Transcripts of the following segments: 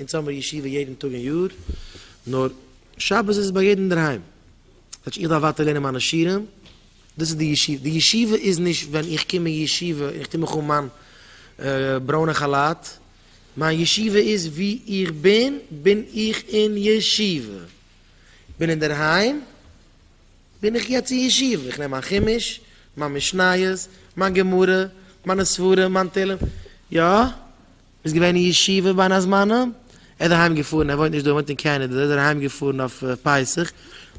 אונז האמיר ישיבה יעדן טאג אין יאר, נאר שבת איז עס ביי יעדן אינדערהיים, כאטש איך דארף ווייטער לערנען מיינע שירים, דאס איז די ישיבה, די ישיבה איז נישט ווען איך קום אין ישיבה און איך טו מיך אן מיין ברוינע כאלאט, מיין ישיבה איז ווי איך בין, בין איך אין ישיבה, בין אינדערהיים, בין איך יעצט אין ישיבה, איך נעם מיין חומש, מיין משניות, מיין גמרא, מיינע ספרים, מיין תהלים, יא. איז געווען אין ישיבה ביין הזמנה, ער איז אהיים געפארן, ער וואוינט נישט דא, ער וואוינט אין קענעדע, איז ער אהיים געפארן אויף פסח,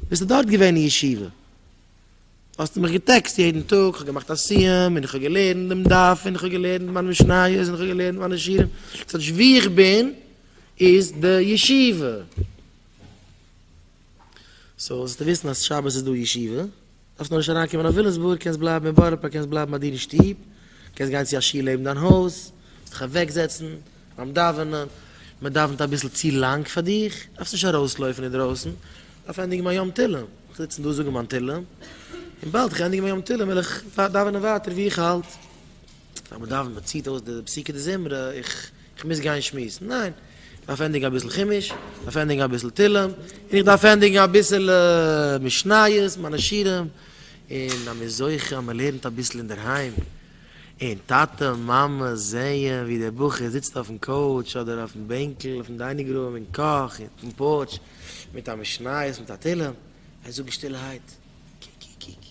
ביסטו דארט געווען אין ישיבה? האסטו מיך געטעקסט יעדן טאג, כ'האב געמאכט א סיום, און כ'האב געלערנט דעם דף, און כ'האב געלערנט מיין משניות, און כ'האב געלערנט מיינע שירים, ס'הייט נישט וואו איך בין איז די ישיבה. סאו זאלסטו וויסן אז שבת איז דא ישיבה. דארפסט נאר נישט אריינקומען אויף ווילימסבורג, קענסט בלייבן אין בארא פארק, קענסט בלייבן ביי דיר אין שטוב, קענסט גיין צו א שול לעבן דיין הויז, קענסט דיך אוועקזעצן ביים דאווענען, מען דאווענט אביסל צו לאנג פאר דיך, דארפסט נישט ארויסלויפן אינדרויסן, כ'דארף ענדיגן מיין יום תהלים, איך וועל זיצן דא זאגן מיין תהלים, און באלד איך ענדיג מיין יום תהלים וועל איך דאווענען ווייטער ווי איך האלט. פאר מען דאווענט מען ציט אויס די פסוקי דזמרה, איך איך מוז גיין שמועסן, ניין, איך דארף ענדיגן אביסל חומש, איך דארף ענדיגן אביסל תהלים, און איך דארף ענדיגן אביסל משניות, מיינע שירים, און אז מען איז זוכה אז מען לערנט אביסל אינדערהיים, און טאטע מאמע זעען ווי דער בחור זיצט אויפן קאוטש אדער אויפן בענקל אויפן דיינינג רום און קאך און אויפן פארטש מיט א משניות מיט א תהלים, זיי זאגן שטילערהייט, קי קי קי קי.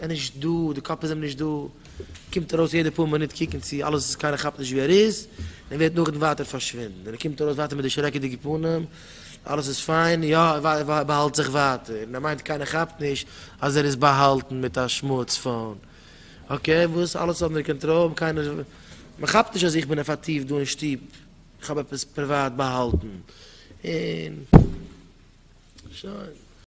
ער איז נישט דא, די קאפ איז אים נישט דא, קומט ארויס יעדע פאר מינוט קוקן צו אלעס איז, קיינער כאפט נישט ווי ער איז, און ווערט נאכדעם ווייטער פארשווינדן, און ער קומט ארויס ווייטער מיט די שרעקעדיגע פנים, אלעס איז פיין, יא, ער באהאלט זיך ווייטער, און ער מיינט קיינער כאפט נישט אז ער איז באהאלטן מיט א שמארטס פאון, אקעי, וואס, אלעס אנדער קאנטראל, קיינער, מען כאפט נישט אז איך בין עפעטיוו דא אין שטוב, איך האב עפעס פריוואט באהאלטן, און שוין.